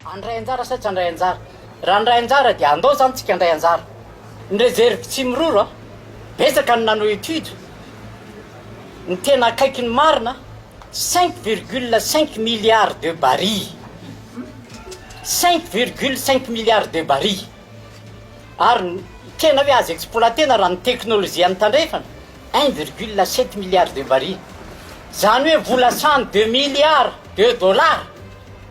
Handray anjara sa tsy handray anjara? Raha handray anjara dia andao izany tsika handray anjara. Ny reserve tsy miroro a! Betsaka ny nanao étude. Ny tena akaiky ny marina, cinq virgule cinq milliards de barils. Cinq virgule cinq milliards de barils. Ary tena hoe azo exploiter-na raha ny teknolojian'ny tandrefana, un virgule sept milliards de barils. Izany hoe vola sahan'ny deux milliards de dollars.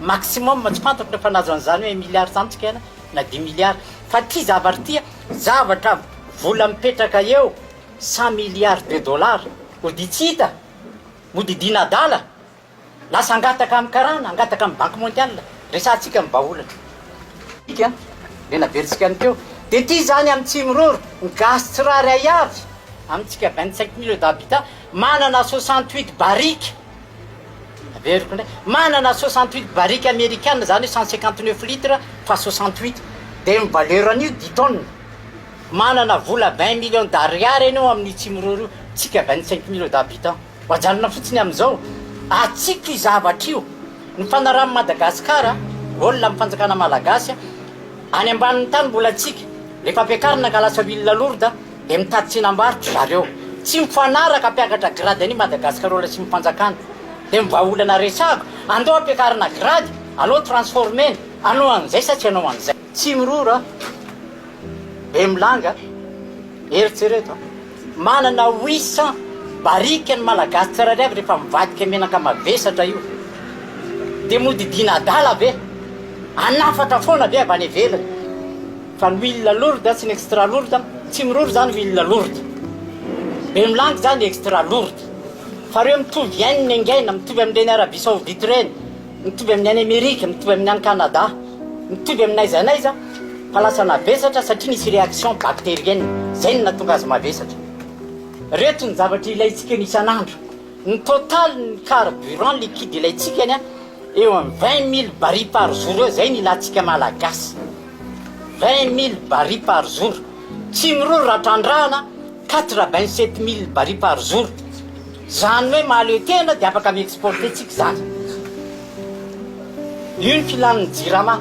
Maximum, tsy fantako rehefa nahazo an'izany hoe un milliard zany tsika an, na dimy milliard. Fa ity zavatra ity an, zavatra vola mipetraka eo cent milliards de dollars ody tsy hita, ody idina adala, lasa angataka amin'ny karana, angataka amin'ny banque mondiale, resahantsika ny vahaolana. Ity an, le naverintsika any teo, dia ity izany amin'ny Tsimiroro, ny gasy tsirairay avy, amintsika vingt cinq millions d'habitants, manana soixante huit barriques, Averiko indray, manana soixante huit barrique amerikana izany hoe cent cinquante neuf litre fois soixante huit dia ny valeur an'io dix tonnes, manana vola vingt millions d'ariary ianao amin'io tsimiroro io, tsika vingt cinq millions d'habitants, ajanona fotsiny amin'izao, atsipy io zavatra io, ny fanarahan'i Madagasikara, goal amin'ny fanjakana malagasy, any ambanin'ny tany mbola tsika, rehefa ampiakarina ka lasa huile lourde. Dia mitady tsenam-barotra ry zareo. Tsy mifanaraka mpiakatra grade any Madagascarola sy ny fanjakana. Dia ny vahaolana resahako, andao ampiakarina grade, alao transformer-na, anao an'izay sa tsy anao an'izay. Tsimirora, Bemilanga, eritrereto an! Manana huit cent barika ny Malagasy tsirairay avy rehefa mivadika menaka mavesatra io. Dia mody diana adala ve? Hanafatra foana ve avy any ivelany? Fa ny huile lourde sy ny extra lourde, tsy miroro izany huile lourde. Be milanga izany extra lourde. Fa ireo mitovy yen ny engaina, mitovy amin'ireny Arabie Saoudite ireny, mitovy amin'ny any Amerika, mitovy amin'ny any Canada, mitovy amin'ny n'aiza n'aiza fa lasa navesatra satria nisy réaction bactérienne, izay no nahatonga azy mavesatra. Ireto ny zavatra ilaintsika ny isan'andro. Ny total ny carburant liquide ilaintsika ny eo amin'ny vingt mille barils par jour eo, izay no ilantsika Malagasy. Vingt mille barils par jour, tsy miroro raha trandrahana, quatre vingt sept mille barils par jour, izany hoe mahaleo tena dia afaka mi-exporter tsika izany. Io ny filan'ny jirama,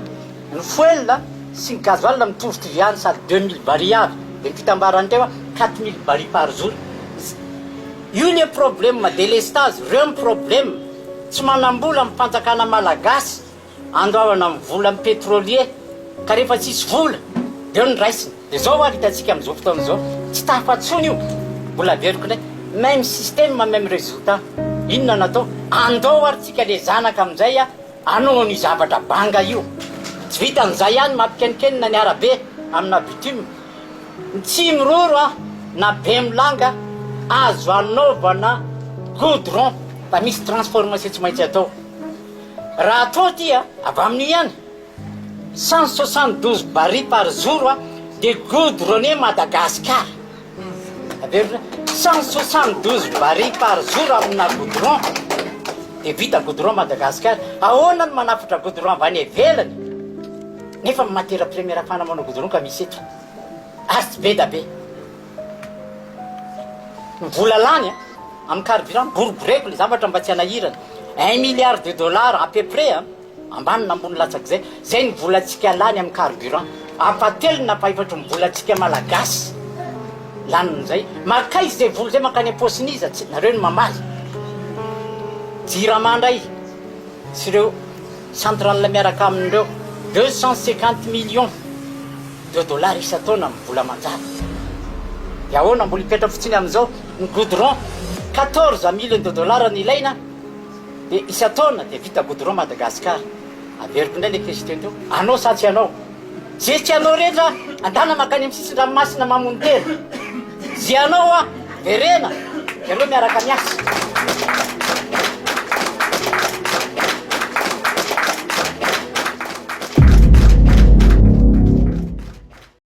ny fuel sy ny gasoil mitovitovy ihany sady deux mille barils avy, dia ny fitambarany teo a quatre mille barils par jour. Io le problème, delestage, reo ny problème, tsy manam-bola ny fanjakana malagasy. Andoavana amin'ny vola ny pétrolier ka rehefa tsisy vola dia eo ny raisina. Dia izao ary hitantsika amin'izao fotoana izao, tsy tafa intsony io. Mbola averiko indray, même système, même résultat. Inona no atao? Andao ary tsika le zanaka amin'izay hanao an'io zavatra banga io. Tsy vitan'izay ihany, mampikenikenina ny arabe amina bitume. Ny tsihy miroro na bemilanga azo anaovana goudron fa misy transformation tsy maintsy atao. Raha atao ity a, avy amin'io ihany, cent soixante douze barils par jour a, dia goudronner Madagascar. Averiko hoe cent soixante douze barils par jour amina goudron, dia vita goudron Madagascar. Ahoana no manafatra goudron avy any ivelany, nefa ny matière première fanamoana goudron ka misy eto, ary tsy be da be. Ny vola lany amin'ny carburant, boriboreko ilay zavatra mba tsy hanahirana, un milliard de dollars à peu près an, ambany na ambony latsak'izay, izay ny volantsika lany amin'ny carburant, ampahatelony na ampahefatry ny volantsika malagasy lany amin'izay, mankaiza izay vola izay, mankany am-paosin'iza, tsy nareo no mamaly, jirama indray sy ireo. Central miaraka amin'ireo deux cent cinquante millions de dollars isan-taona amin'ny vola manjary. Dia ahoana mbola hipetraka fotsiny amin'izao ny goudron quatorze millions de dollars no ilaina dia isan-taona dia vita goudron Madagascar. Averiko indray ilay question teo, anao sa tsy anao? Ze tsy anao rehetra adala makany amin'ny sisin-dranomasina mamono tena. Ze anao a, verena, ianao miaraka miasa.